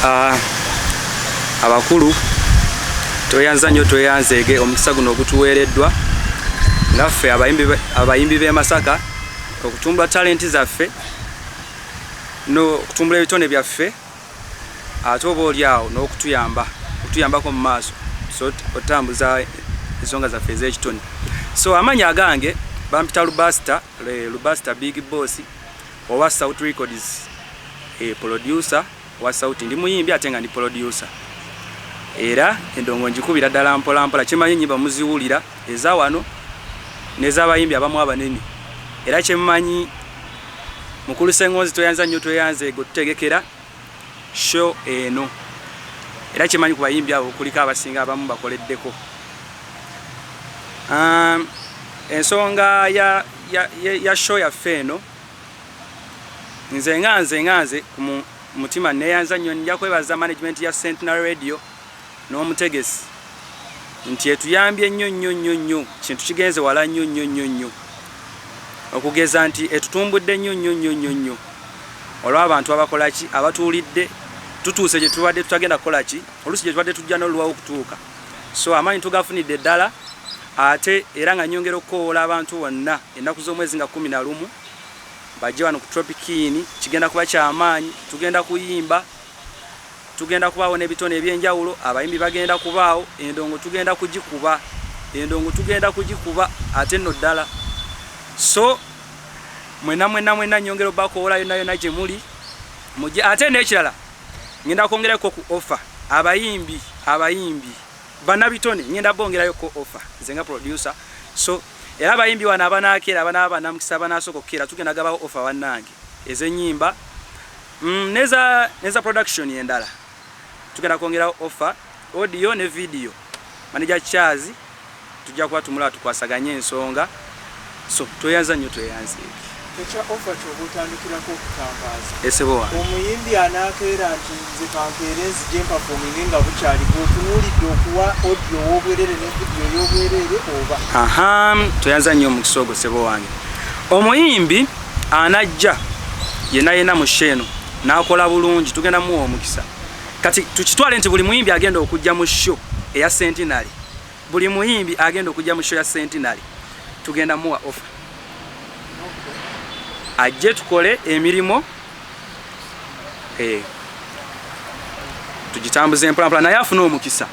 Ah, abakulu tweyanza nnyo tweyanzeege omukisa guno ogutuweereddwa ngaffe abayimbi b'e masaka okutumbula talenti zaffe n'okutumbula ebitone byaffe ate oba oli awo n'okutuyamba okutuyambako mu maaso okutambuza ensonga zaffe ez'ekitone so amanya agange bampita lubasita lubasita big boss Owa Sauti Records e producer wa Sauti ndi muyimbi ate nga ndi producer era endongo njikubira ddala mpola mpola kyemanyi enyimba muziwulira eza wano nezabayimbi abamu abanene era kyemanyi mukulu sengonzi tweyanza nnyo tweyanza ego tutegekera show eno era kyemanyi ku bayimbi abo kuliko abasinga abamu bakoleddeko um, ensonga ya ya, ya, ya show yaffe eno nze nga nze nga nze ku mutima neyanza nnyo nja kwebaza management ya centenary radio n'omutegesi nti etuyambye nnyo nnyo nnyo nnyo kintu kigenze wala nnyo nnyo nnyo nnyo okugeza nti etutumbudde nnyo nnyo nnyo nnyo nnyo olw'abantu abakolaki abatuulidde tutuuse gye tubadde tutagenda kukolaki oluusi gye tubadde tujja n'oluwawo okutuuka So amaanyi tugafunidde ddala ate era nga nnyongera okukoowoola abantu bonna ennaku z'omwezi nga kkumi na lumu bajje wano ku Tropic Inn. Kigenda kuba kya maanyi, tugenda kuyimba, tugenda kubaawo n'ebitone eby'enjawulo, abayimbi bagenda kubaawo, endongo tugenda kugikuba, endongo tugenda kugikuba ate nno ddala. So mwenna mwenna mwenna nnyongera obakoowoola yonna yonna gye muli mujje ate n'ekirala ngenda kwongerako ku offer abayimbi abayimbi banabitone ngenda bongerayo ko offer nze nga producer so era abayimbi wano abanakeera abanaba banamukisa banasooka okukeera tugenda gabawo offer bannange ezenyimba mm, neza neza production endala tugenda kwongerawo offer audio ne video manager chazi Tujja kuba tumulaba tukwasaganye ensonga so tweyanza nnyo tweyanzeeki. Ekya offer kyoba otandikirako okutangaaza. Eh ssebo wange. Omuyimbi anaakeera nti nze kankeere nzije mpafominge nga bukyali gwe otunuulidde okuwa audio ow'obwerere ne video ey'obwerere oba. Ahaa tweyanza nnyo omukisa ogwo ssebo wange. Omuyimbi anajja yena yena mu show eno n'akola bulungi tugenda muwa omukisa. Kati tukitwale nti buli muyimbi agenda okujja mu show eya centenary. Buli muyimbi agenda okujja mu show ya Centenary tugenda muwa offer. Ajje tukole emirimu eh tugitambuze mpola mpola naye afuna omukisa.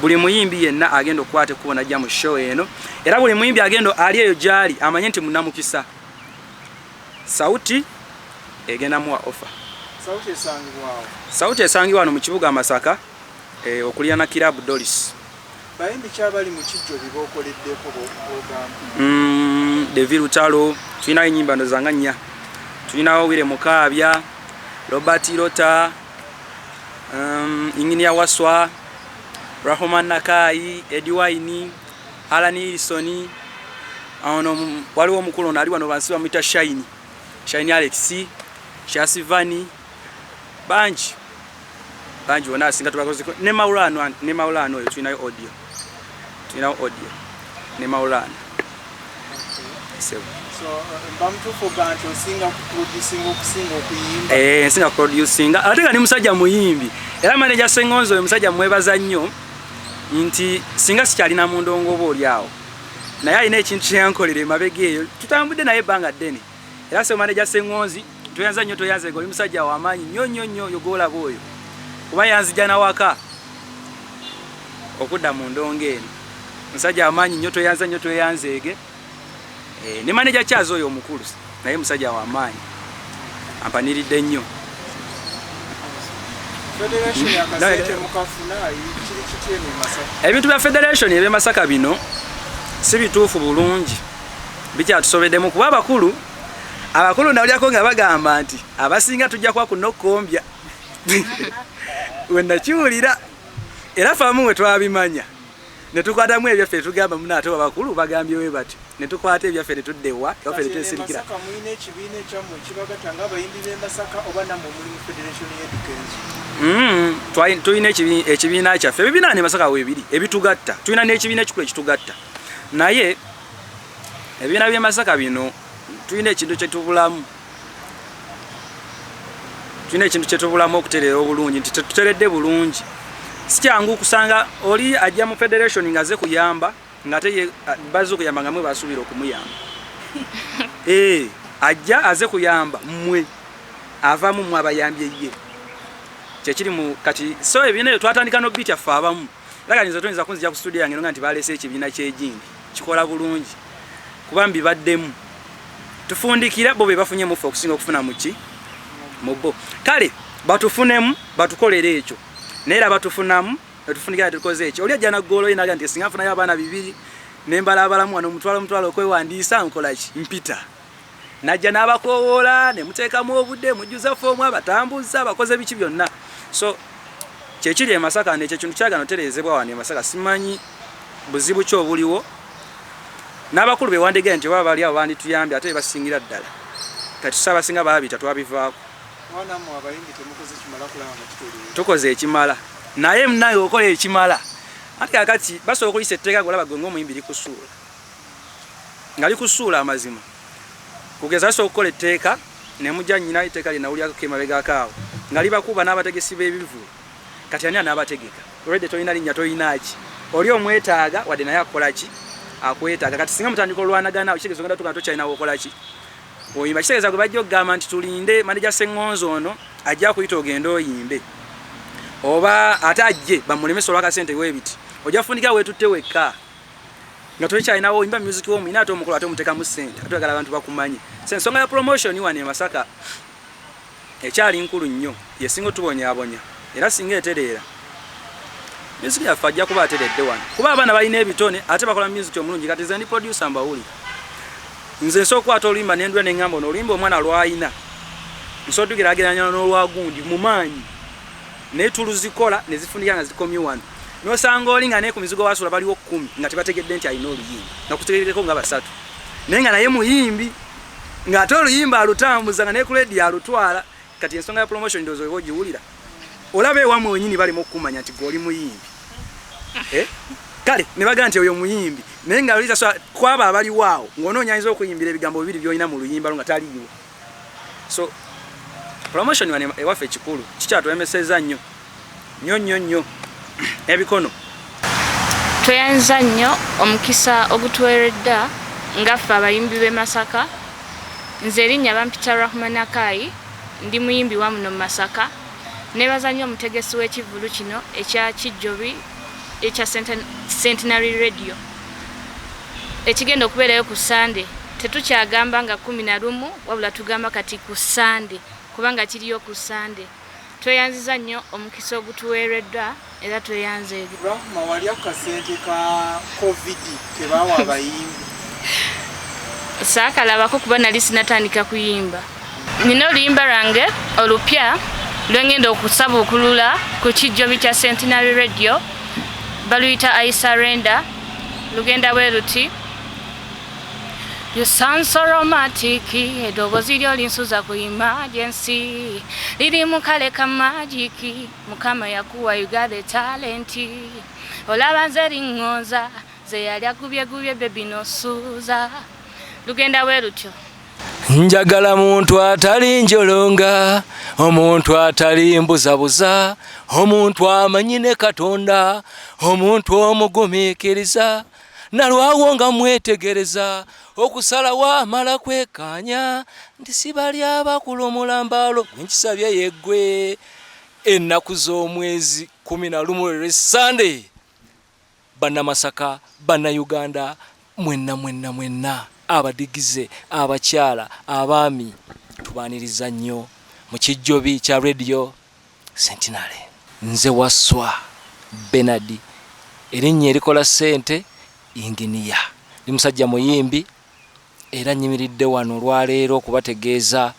Buli muyimbi yenna agenda okukwata ekkubo najja mu show eno era buli muyimbi agenda ali eyo gyali amanye nti munamukisa. Sauti egenda muwa offer. Sauti esangibwa wano mu kibuga Masaka. okulirana Kiraabu Doris. Bayimbi ki abali mu kiggyo bye bookoleddeko b'ogamba? Mm, Devi Lutalo, tulinayo ennyimba ndoza nga nnya. Tulinawo Wire Mukaabya, Robert Rota, um, Inginia Waswa, Rahoma Nakaayi, Edi Wine, Alan Wilson, ono waliwo omukulu ono ali wano bansi bamuyita Shine, Shine Alex, Shasivani, bangi bangi wona asinga tubakoze ne maulano ne maulano oyo tulinayo audio tulinayo audio ne maulano eh, nsinga kuproducinga ate nga ni musajja muyimbi era maneja sengonzo oyo musajja mwebaza nnyo nti singa sikyalina mundongo oba oli awo naye alina ekintu kyeyankolera emabega eyo tutambudde naye ebbanga ddene Era se manager Sengonzi toyanza nyo toyanza ego musajja wa manyi nyo nyo nyo yogola boyo kuba yanzija na waka okuda mu ndonge eno musajja wa manyi nyo toyanza nyo toyanza ege eh ne manager chazo oyo mukulu naye musajja wa manyi ampaniride nyo Federation ya kasete mukafuna kiri kitye ne masaka Ebintu bya federation ebe masaka bino si bituufu bulungi bikyatusobedemu kuba abakulu abakulu nawulyako nga bagamba nti abasinga tujja kuba kunokukombya wenakiwulira era famu we twabimanya netukwatamu ebyaffe netugamba muna ate abakulu bagambye we bati netukwata ebyaffe netuddewa ewafe netwesirikira hmm, tulina ekibiina kyaffe ebibiina ne masaka webiri ebitugatta tulina n'ekibiina ekikulu ekitugatta naye ebibiina byemasaka bino tulina ekintu kyetubulamu tulina ekintu kyetubulamu okutereera obulungi nti tetuteredde bulungi sikyangu kusanga oli ajja mu federation nga ze kuyamba ngate baze okuyamba nga mwe basuubira okumuyamba ee eh, ajja aze kuyamba mmwe avamu mwe abayambye ye kyekiri mu kati so ebibiina ebyo twatandika nobitya ffe abamu Lagani nze toyinza kunzija ku studio yange nga nti baleese ekibiina ky'ejindi kikola bulungi kuba mbibaddemu tufundikira bo be bafunye muffe okusinga okufuna muki mu bo kale batufunemu batukolere ekyo naye era batufunamu netufundikira tukoze ekyo oli ajja naggoolo ye naga nti singa nfunayo abaana bibiri ne mbalaabalamu wano omutwalo omutwalo okwewandiisa nkola ki mpita najja n'abakoowoola ne muteekamu obudde mujjuza foomu abatambuza abakoze biki byonna so kyekiri e masaka nekyo kintu kyagana otereezebwa wano e masaka simanyi buzibu ki obuliwo n'abakulu bewandegeya nti oba bali abo bandituyambye ate bebasingira ddala kati tusaba singa baabita twabivaako tukoze ekimala naye munaye okola ekimala ati kakati basobola okuyisa etteeka golaba gwe ngaomuyimbi likusuula ngali kusuula amazima kugeza asobola okukola etteeka nemugya nyina etteeka lye nawulyako emabegako awo ngali bakuba n'abategesi b'ebivulu kati ani anaabategeka olwedde tolina linnya tolinaaki oli omwetaaga wadde naye akolaki akwetaaga kati singa mutandika olwanagana kitegeeza ogenda tugana tokyalina wokolaki oyimba kitegeeza gwe bajja okugamba nti tulinde maneja seŋŋonzi ono ajja kuyita ogende oyimbe oba ate ajje bamulemesa olwakasente webiti ojja fundikira wetutte wekka nga twekyalinawo oyimba music wo muyina ate omukolo ate omutekamu sente ate ogala abantu bakumanyi so ensonga ya promotion wano e masaka ekyali nkulu nnyo yesinga otubonyabonya era singa etereera music yaffe ajja kuba ateredde wano kuba abaana balina ebitone ate bakola music omulungi kati zendi producer mbawuli nze nsobola okukwata oluyimba nendula nengamba ono oluyimba omwana lwalina nsobola tugerageranya n'olwagundi mu maanyi naye tuluzikola nezifunika nga zikomye wano nosanga oli nga naye ku mizigo wasula baliwo kumi nga tebategedde nti alina oluyimba nga kutegerekeko nga basatu naye nga naye muyimbi ng'ate oluyimba alutambuza nga naye ku ledi alutwala kati ensonga ya promotion ndozo oba ogiwulira olaba ewamwe wenyini balimu okukumanya nti gwe oli muyimbi eh? kale ne bagamba nti oyo muyimbi naye nga lisa kwabo abaliwo awo ng'onoonyanyiza okuyimbira ebigambo bibiri byolina mu luyimba lwo nga taliiwo so promotion wano ewaffe ekikulu kikyatulemeseza nnyo nnyo nnyo nnyo ebikono tweyanza nnyo omukisa ogutuweredda nga ffe abayimbi b'e masaka nze erinnya bampita rahman akayi ndi muyimbi wa muno mu masaka nebaza nnyo omutegesi w'ekivulu kino ekya kijjobi ekya centenary radio Ekigenda okubeerayo ku Ssande tetukyagamba nga kkumi na lumu wabula tugamba kati ku Ssande kubanga kiriyo ku Ssande. Tweyanziza nnyo omukisa ogutuweereddwa era tweyanze eri. Rahma wali akasente ka Covid ke baawa abayimbi? Saakalabako kuba nali sinatandika kuyimba. Nina oluyimba lwange olupya lwengenda okusabuukulula ku kijjobi kya Centenary Radio baluyita I surrender lugenda bwe luti You sound so romantic edoboozi lyo linsuza ku emergency liri mu kale ka magiki mukama yakuwa you got the talent olaba nze liŋŋonza ze yali agubyegubye bebi nosuuza lugenda bwe lutyo njagala muntu atali njolonga omuntu atali mbuzabuza omuntu amanyi ne katonda omuntu omugumikiriza nalwawo nga mwetegereza okusalawo amala kwekanya nti sibali abakulu omulambalo gwenkisabye yeggwe ennaku z'omwezi kumi na lumu lwesande Bannamasaka, Bannayuganda mwenna mwenna mwenna, abadigize, abakyala, abaami, tubaaniriza nnyo mu kijjobi kya Radio Centenary. Nze Wasswa Bernard, erinnya erikola ssente, yinginiya. Ndi musajja muyimbi, Era nyimiridde wano olwaleero okubategeeza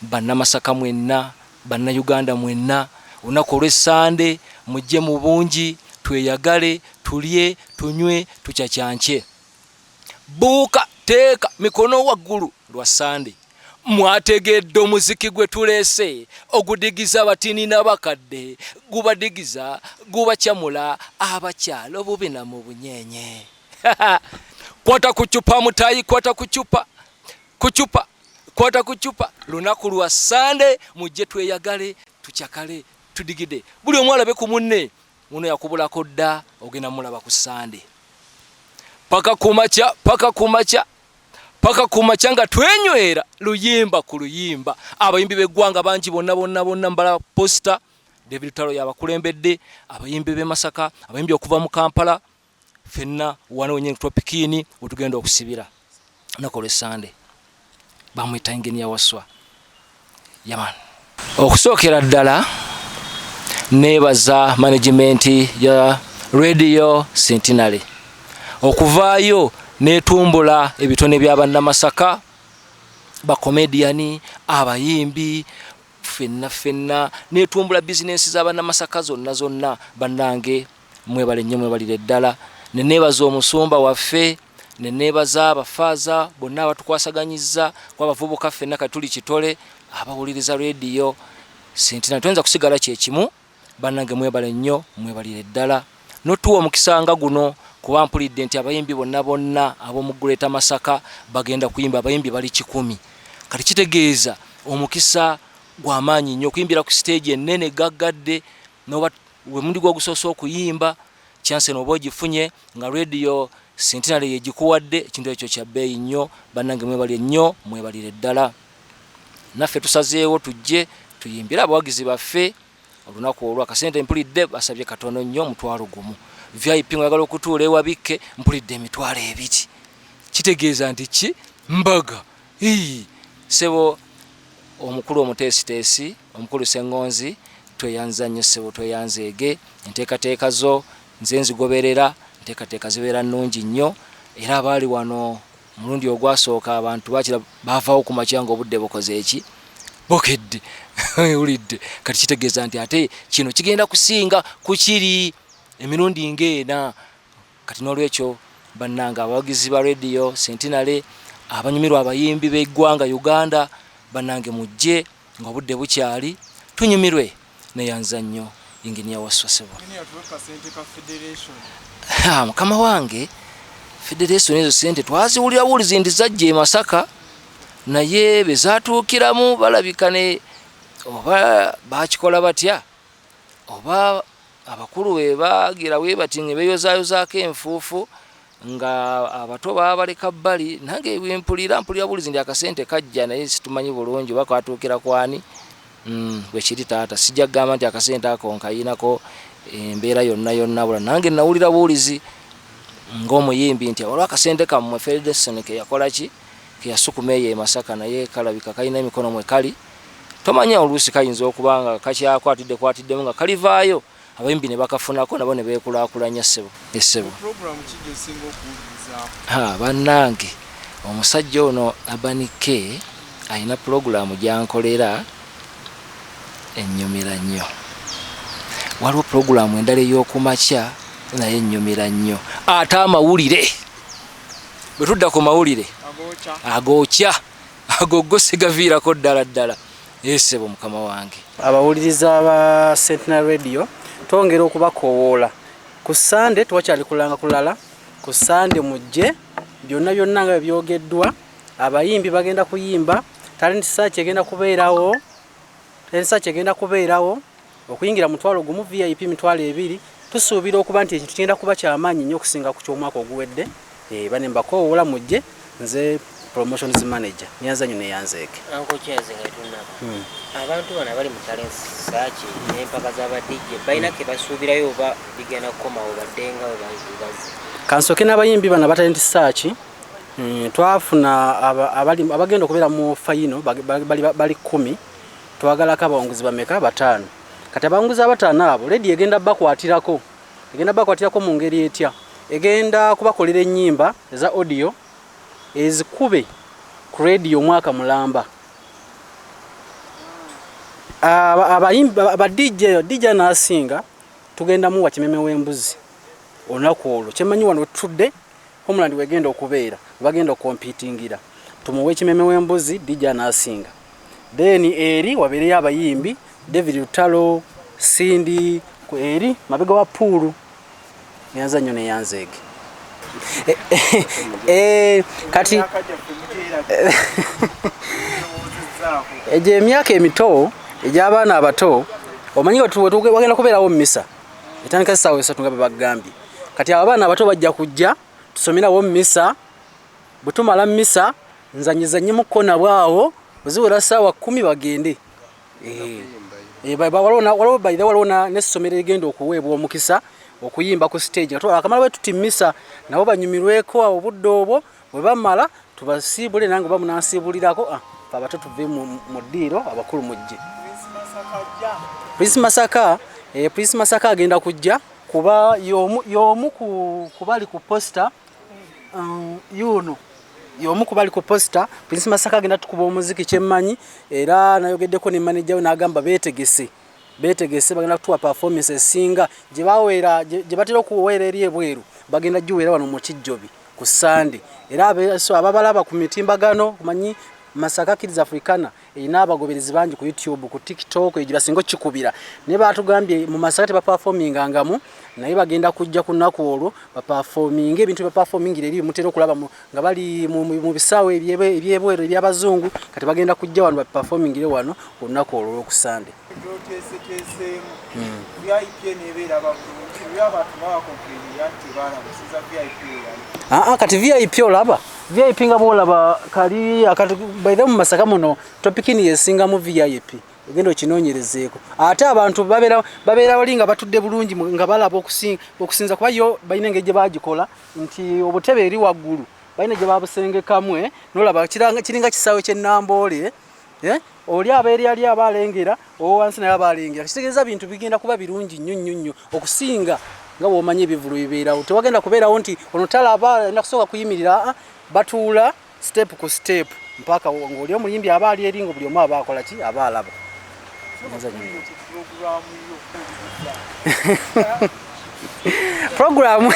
Bannamasaka mwenna, Bannayuganda mwenna, olunaku olw'e Ssande mujje mu bungi tweyagale, tulye, tunywe, tucacance. Buuka, teeka, mikono waggulu, lwa Ssande. Mwategedde omuziki gwe tuleese ogudigiza abatini n'abakadde, gubadigiza, gubacamula abakyala obubi na mu bunyeenye. kwata kucupa mutayi kwata kucupa kucupa kwata kucupa lunaku lwa sande mujje tweyagale tucakale tudigide buli omu alabe ku munne muno yakubulako dda ogenda mulaba ku sande paka kumaca paka kumaca paka kumaca nga twenywera luyimba ku luyimba abayimbi beggwanga bangi bonna bonna bonna mbala posita david talo yabakulembedde abayimbi bemasaka abayimbi okuva mu kampala fenna wano wenye tropikini wetugenda okusibira nako lwesande bamwita enginia waswa yaman okusookera ddala nebaza management ya radio centenary okuvaayo netumbula ebitone bya bannamasaka bakomediyani abayimbi fenna fenna netumbula bizinensi za bannamasaka zonna zonna bannange Mwebale nnyo mwebalire ddala. Ne neebaza omusumba waffe, ne neebaza abafaaza bonna abatukwasaganyizza kuba abavubuka ffenna kati tuli kitole abawuliriza leediyo Ssentinel. Toyinza kusigala kye kimu. Bannange mwebale nnyo mwebalire ddala n'otuwa omukisa nga guno kuba mpulidde nti abayimbi bonna bonna ab'omu Greater Masaka bagenda kuyimba. Abayimbi bali kikumi. Kati kitegeeza omukisa gwa maanyi nnyo okuyimbira ku siteegi ennene ggaggadde noba wemundi gwogusoose okuyimba chance noba ogifunye nga radio centenary yegikuwadde ekintu ekyo kya bbeeyi nnyo bannange mwebalire nnyo mwebalire ddala naffe tusazeewo tujje tuyimbire abawagizi baffe olunaku olwo akasente mpulidde basabye katono nnyo omutwalo gumu vip ngayagala okutuula ewabikke mpulidde emitwalo ebiri kitegeeza nti ki mbaga Hii, sebo omukulu omuteesiteesi omukulu Ssengonzi tweyanza nnyo ssebo tweyanza ege enteekateeka zo nze nzigoberera enteekateeka zibeera nnungi nnyo era abaali wano omulundi ogwasooka abantu bakira baavaawo ku makya nga obudde bukoze eki bukedde ulidde kati kitegeeza nti ate kino kigenda kusinga ku kiri emirundi ng'ena Kati n'olwekyo bannange abawagizi ba Radio Centenary, abanyumirwa abayimbi b'eggwanga Uganda, bannange mujje ng'obudde bukyali tunyumirwe neyanza nnyo Engineer Wasswa ssebo. Engineer tuwe kasente ka Federation. Haa mukama wange Federation ezo sente twaziwulira wulizi ndi zajja e Masaka naye bezatuukiramu balabika ne oba bakikola batya oba abakulu be bagira we bati nga beyozayozaako enfuufu nga abato babaleka bbali nange mpulira mpulira bulizi ndi akasente kajja naye situmanyi bulungi oba kwatuukira kwani mm, bwekiri taata sijja kugamba nti akasente ako nkayinako embeera yonna yonna bula nange nawulira buulizi ngaomuyimbi nti olw akasente kammwe federation keyakolaki keyasukuma eyo emasaka naye kalabika kalina emikono mwe kali tomanya oluusi kayinza okuba nga kakyakwatiddekwatiddemu nga kalivaayo abayimbi ne bakafunako nabo ne beekulaakulanya ssebo essebo bannange omusajja ono abanike alina pulogulaamu gyankolera ennyumira nnyo waliwo pulogulaamu endala ey'okumakya naye ennyumira nnyo ate amawulire bwe tudda ku mawulire agookya Ago go sigaviirako ddala ddala. Ee ssebo mukama wange. Abawuliriza ba Centenary Radio twongera okubakowoola ku Ssande tewakyali kulanga kulala ku Ssande mujje byonna byonna nga byogeddwa abayimbi bagenda kuyimba talenti search egenda kubeerawo talenti search egenda kubeerawo Okuyingira mutwalo gumu, VIP mitwalo ebiri. Tusuubira okuba nti ekintu kigenda kuba kya maanyi nnyo okusinga ku ky'omwaka oguwedde. Eeh banne mbakoowoola mujje. Nze Promotions Manager, Nyanza Nyoni eya Nzeeke. Uncle Charles nga tetunnava, abantu bano abali mu Talents Search n'empaka za ba DJ balina ke basuubirayo oba bigenda kukomawo badde nga bwe bazze? Ka nsooke n'abayimbi bano aba Talent Search. Twafuna abagenda okubeera mu fayino bali kkumi. Twagalako abawanguzi bameka? Bataano. Kati abawanguzi abataano abo leediyo egenda bakwatirako. Egenda bakwatirako mu ngeri etya? Egenda kubakolera ennyimba eza odiyo ezikube ku leediyo omwaka mulamba. Abadj dj anaasinga tugenda muwa kimeme w'embuzi olunaku olwo. Kye mmanyi wano wetutudde Homeland wegenda okubeera webagenda okompitingira tumuwe ekimeme wembuzi dija nasinga then eri wabeereyo abayimbi David Lutalo Cindy eri mabega wa puulu yanza nyo neyanzeege eh, eh, eh, kati egyo emyaka emito egy'abaana abato omanyi wagenda kubeerawo mumisa etandika essaawa esatu nga bwe bagambye kati abo abaana abato bajja kujja tusomerawo misa bwe tumala misa nzanyizanyemukko nabwe awo oziwera ssaawa kumi bagende eh, eh, waliwo baire waliwo n'essomero erigenda okuweebwa omukisa okuyimba ku stage akamala bwe tuti misa nabo banyumirweko awo obudde obwo bwe bamala tubasiibule nange oba munansiibulirako ah, fe abato tuve mu ddiiro abakulu mujje prince masaka eh, prince masaka agenda kujja kuba y'omu kubali ku posita um, yuuno y'omu kubali ku posita prince masaka agenda tukuba omuziki kyemmanyi era nayogeddeko ne maneja we n'agamba beetegese betegese bagenda kutuwa performance esinga gye baweera gye batera okuweera eri ebweru bagenda giweera wano mu kijjobi ku sande era abeso ababalaba ku mitimbagano manyi masaka kids africana erina abagoberezi bangi ku youtube ku tiktok egyo basinga okikubira naye baatugambye mu masaka tebapafominga ngamu naye bagenda kujja ku nnaku olwo bapafominga ebintu byebapafomingira eri bimutera okulaba nga bali mu bisaawe ebyebweru ebyabazungu kati bagenda kujja wano baperformingire wano olunaku olwo olwokusande aa kati vip olaba vip nga bwolaba kali akati baithe mu masaka muno topikini yesingamu vip ogenda okinoonyerezeeko ate abantu babeera bali nga batudde bulungi nga balaba okusinza kuba yo balina engeri gye bagikola nti obutebe eri waggulu balina gye babusengekamu eh? nolaba kiringa kisaawe kyennamboole eh? oli aba eri ali aba alengera owowansi naye aba alengera kitegeeza bintu bigenda kuba birungi nnyo nnyo nnyo okusinga nga bwomanyi ebivulu bibeerawo tewagenda kubeerawo nti ono talaba alina kusooka kuyimirira ah, batuula step ku step mpaka ng'oli omuyimbi aba ali eri nga buli omu aba akola ki aba alaba programu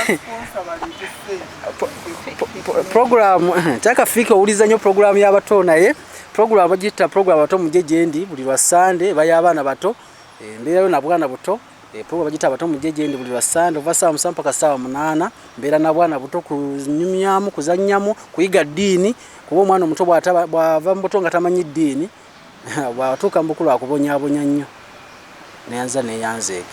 programu kyakafiika owuliza nnyo programu y'abato naye programu bagitta programu abato mugye gyendi buli lwa sande baya abaana bato embeerayo nabwana buto Eh, program bagita abato mujje gyendi buli lwa sande ova saawa musanvu paka saawa munaana mbeera na bwana buto kunyumyamu kuzannyamu kuyiga ddiini kuba omwana omuto bwava mu buto nga tamanyi ddiini bwatuuka mu bukulu akubonyabonya nnyo neyanza neyanzeege